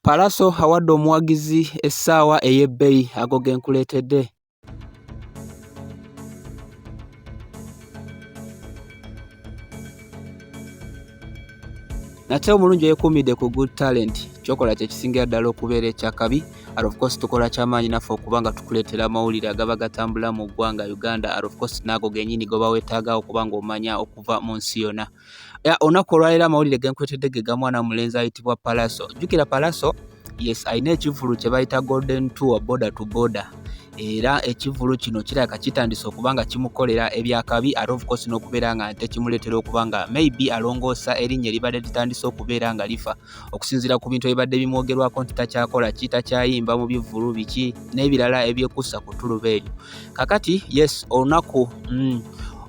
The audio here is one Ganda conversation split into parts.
Pallaso awadde omuwagizi essaawa ey'ebbeyi ago ge nkuleetedde. nate omulungi eyekuumidde ku good talent kyokola kyekisingira ddala okubeera ekyakabi and of course tukola kyamaanyi naffe okuba nga tukuleetera amawulire agaba gatambula mu ggwanga uganda and of course naago genyini goba wetaaga okuba nga omanya okuva mu nsi yonna Ya olunaku olwaleero amawulire genkwetedde ge ga mwana mulenzi ayitibwa Palaso. Jjukira Palaso yes alina ekivvulu kye bayita Golden Tour border to border era ekivvulu kino kirabika kitandise okuba nga kimukolera ebyakabi ate of course n'okubeera nga nte kimuleetera okuba nga maybe alongoosa erinnya eribadde litandise okubeera nga lifa. okusinziira ku bintu ebibadde bimwogerwako nti takyakola ki takyayimba mu bivvulu biki n'ebirala ebyekuusa ku ttuluba eryo kakati yes olunaku mm,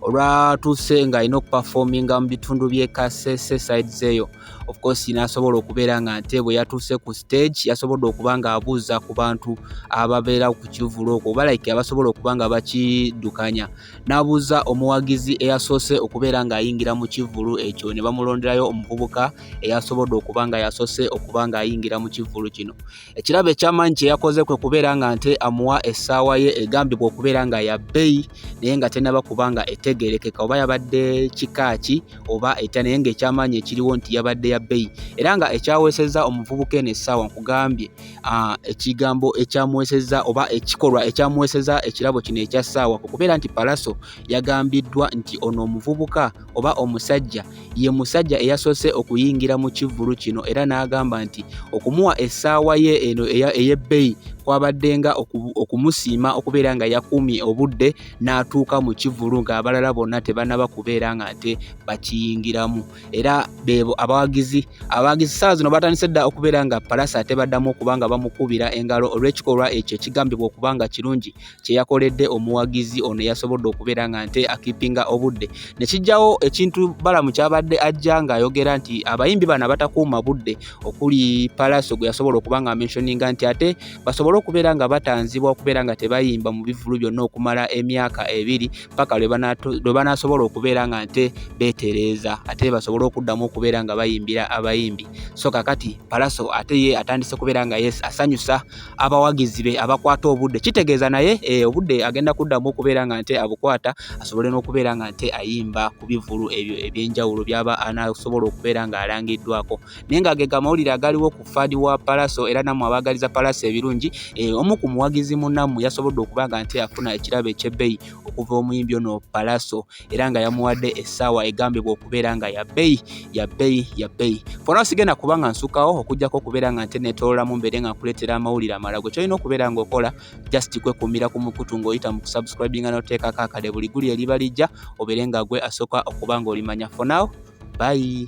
olwatuuse nga alina okupafominga mu bitundu by'e kasese sides eyo of course nasobola okubeera nga nte bwe yatuuse ku stage yasobodde okuba nga abuuza ku bantu ababeera ku kivulu okwo oba like abasobola okuba nga bakidukanya n'abuuza omuwagizi eyasoose okubeera ng'ayingira mu kivvulu ekyo ne bamulonderayo omuvubuka eyasobodde okuba nga yasoose okuba ng'ayingira mu kivvulu kino ekirabo ekyamaanyi kye yakoze kwe kubeera nga nte amuwa essaawa ye egambibwa okubeera nga ya bbeyi naye nga tenaba kuba nga etegeerekeka oba yabadde kika ki oba etya naye ng'ekyamaanyi ekiriwo nti yabadde ya bbeyi era nga ekyaweesezza omuvubuka eno essaawa nkugambye ekigambo ekyamuweseza oba ekikolwa ekyamuweseza ekirabo kino ekya ssaawa ku kubeera nti palaso yagambiddwa nti ono omuvubuka oba omusajja ye musajja eyasoose okuyingira mu kivvulu kino era n'agamba nti okumuwa essaawa ye eno ey'ebbeyi kwabaddenga okumusiima okubeera nga yakuumye obudde n'atuuka mu kivvulu ng'abalala bonna tebanaba kubeera nga nte bakiyingiramu era bebo abawagizi abawagizi saa zino batandise dda okubeera nga palasa ate baddamu okuba nga bamukubira engalo olw'ekikolwa ekyo ekigambibwa okuba nga kirungi kye yakoledde omuwagizi ono yasobodde okubeera nga nte akipinga obudde ne kijjawo ekintu balamu kyabadde ajja ng'ayogera nti abayimbi bano abatakuuma budde okuli palasa gwe yasobola okuba nga amentioninga nti ate basobole okubeera nga batanzibwa okubeera nga tebayimba mu bivulu byonna okumala emyaka ebiri paka lwe banaasobola okubeera nga nte beetereeza ate basobole okuddamu okubeera nga bayimbira abayimbi so kakati palaso ate ye atandise kubeera nga yes asanyusa abawagizi be abakwata obudde kitegeeza naye e, obudde agenda kuddamu okubeera nga nte abukwata asobole n'okubeera nga nte ayimba ku bivulu ebyo ebyenjawulo byaba anasobola okubeera nga alangiddwako naye nga ge gamawulire agaliwo ku fadi wa palaso era nammwe abaagaliza palaso ebirungi eh, omu ku muwagizi munammwe yasobodde okuba nga nti afuna ekirabo ekyebbeyi okuva omuyimbi ono palaso era nga yamuwadde essaawa egambibwa okubeera nga yabbeyi yabbeyi yabbeyi fona sigenda kuba nga nsukawo okujjako okubeera nga nte netololamu mbeere nga nkuleetera amawulire amalagwe kyolina okubeera nga okola just kwekuumira ku mukutu ng'oyita mu kusubscribinga n'oteekako akade buli guli eriba lijja obeere nga gwe asooka okuba ng'olimanya for now bye